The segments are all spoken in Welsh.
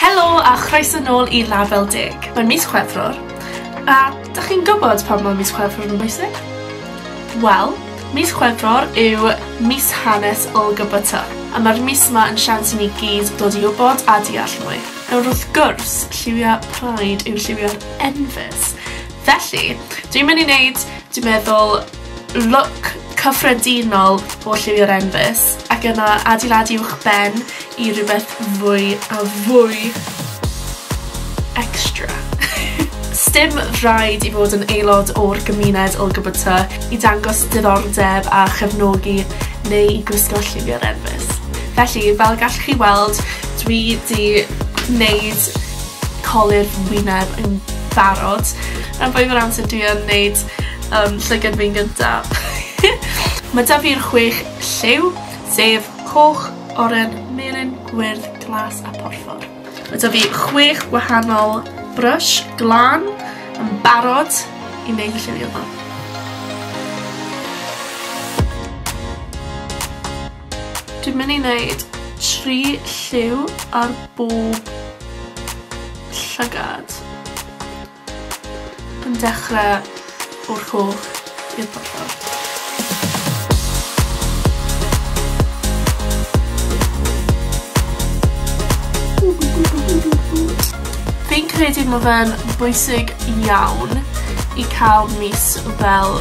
Helo a chroeso nôl i Label Deg. Mae'n mis Chwefror, a dych chi'n gwybod pam mae mis Chwefror yn bwysig? Wel, mis Chwefror yw mis hanes LGBT, a mae'r mis yma yn siawns i ni gyd dod i wybod a deall mwy. Nawr wrth gwrs, lliwia Pride yw lliwio'r enfys. Felly, dwi'n mynd i wneud, dwi'n meddwl, Lwc cyffredinol o lliwio'r enfys, ac yna adeiladu uwchben i rhywbeth fwy a fwy extra. Sdim rhaid i fod yn aelod o'r gymuned LGBT i dangos diddordeb a chefnogi neu i gwisgo lliwio'r enfys. Felly, fel y gallwch chi weld, dwi 'di wneud colur fy wyneb yn barod. Rhan fwyaf o'r amser dwi yn wneud Yym, llygad fi'n gynta. Ma' 'da fi'r chwech lliw, sef coch, oren, melyn, gwyrdd, glas a porffor. Ma' 'da fi chwech gwahanol brush glan yn barod i wneud y lliwio 'ma. Dwi'n mynd i wneud tri lliw ar bob llygad. Yn dechre o'r coch i'r porffor. Fi'n credu ma' fe'n bwysig iawn i ca'l mis fel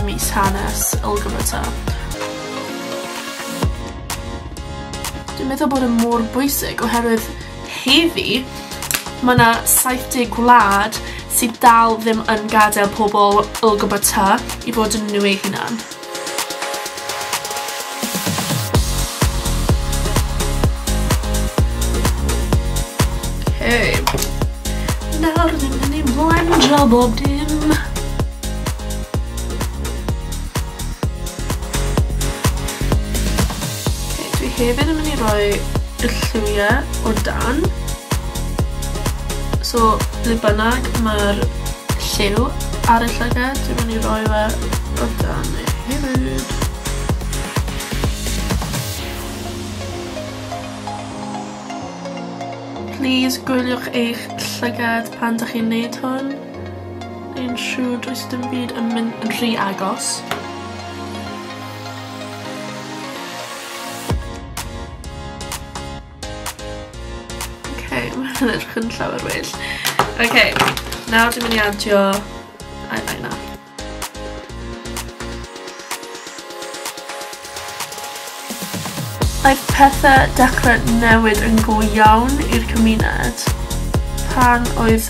mis hanes LGBT. Dwi'n meddwl bod e mor bwysig oherwydd Heddi, mae 'na 70 gwlad sydd dal ddim yn gadael pobl LGBT i fod yn nhw eu hunan. Hey. Nawr ni'n mynd i blendro bob dim. Ok, dwi hefyd yn mynd i roi y lliwia o dan. So, ble bynnag mae'r lliw ar y llygad, dwi'n mynd i roi fe o dan e hefyd. Please gwyliwch eich llygad pan dych chi'n neud hwn. Yn siŵr does dim byd yn mynd yn rhy agos. Mae'n edrych yn llawer well. Ok, nawr dwi'n mynd i adio eyeliner. Aeth pethe dechre newid yn go iawn i'r cymuned pan oedd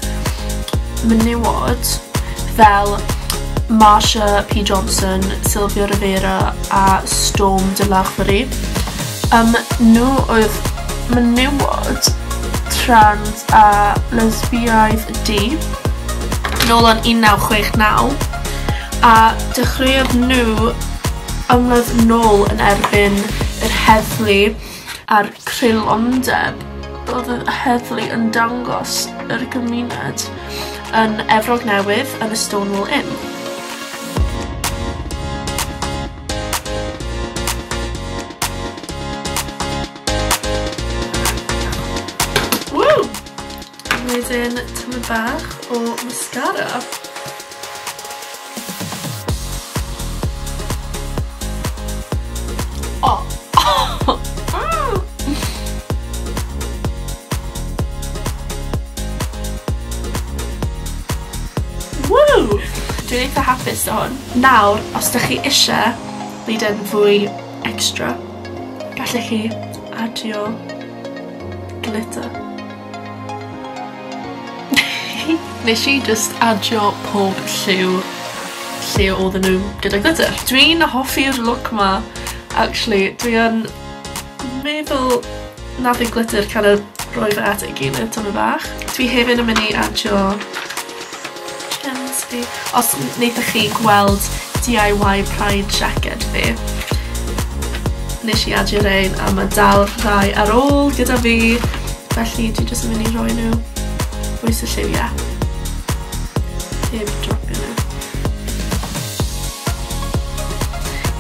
menywod fel Marsha P Johnson, Sylvia Rivera a Storm de Larverie, yym nhw oedd menywod trans a lesbiaidd du, nôl yn 1969, a dechreuodd nhw Ymladd nôl yn erbyn yr heddlu a'r creulondeb oedd y heddlu yn dangos yr gymuned yn Efrog Newydd yn y Stonewall Inn. Ww! Wedyn tamaid bach o mascara. Dwi'n eitha hapus da hwn. Nawr, os da chi eisiau wneud yn fwy extra, gallech chi adio glitter. Nesh i jyst adio pob lliw lle odden n'w gyda glitter. Dwi'n hoffi'r look 'ma actually dwi yn meddwl na bydd glitter kinda rhoi fe at ei gilydd tymed bach. Dwi hefyd yn myn' i adio Cefndir. Os neithoch chi gweld DIY Pride jacket fi. Nes i adio rein a mae dal rhai ar ôl gyda fi. Felly dwi jyst yn mynd i roi nhw bwys y lliwiau. Heb dropio nhw.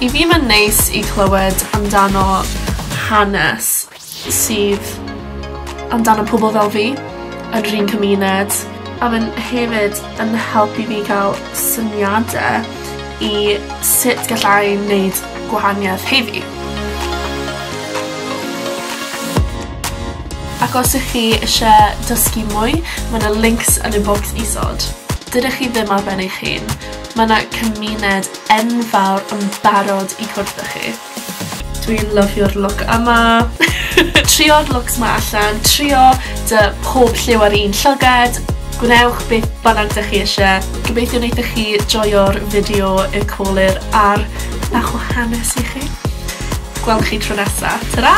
I fi mae'n neis i clywed amdano hanes sydd amdano pobl fel fi yn yr un cymuned. A ma'n hefyd yn helpu fi ga'l syniade i sut gallai neud gwahanieth heddi. Ac os y'ch chi isie dysgu mwy ma' 'na lincs yn y bocs isod. Dydych chi ddim ar ben eich hun. Ma' 'na cymuned enfawr yn barod i cwrdd â chi. Dwi'n lyfio'r look yma. Trio'r looks 'ma allan, trio dy pob lliw ar un llygad, gwnewch beth bynnag dych chi isie. Gobeithio wneithoch chi joio'r fideo y colur a'r bach o hanes i chi. Gwelwn chi tro nesa. Tara!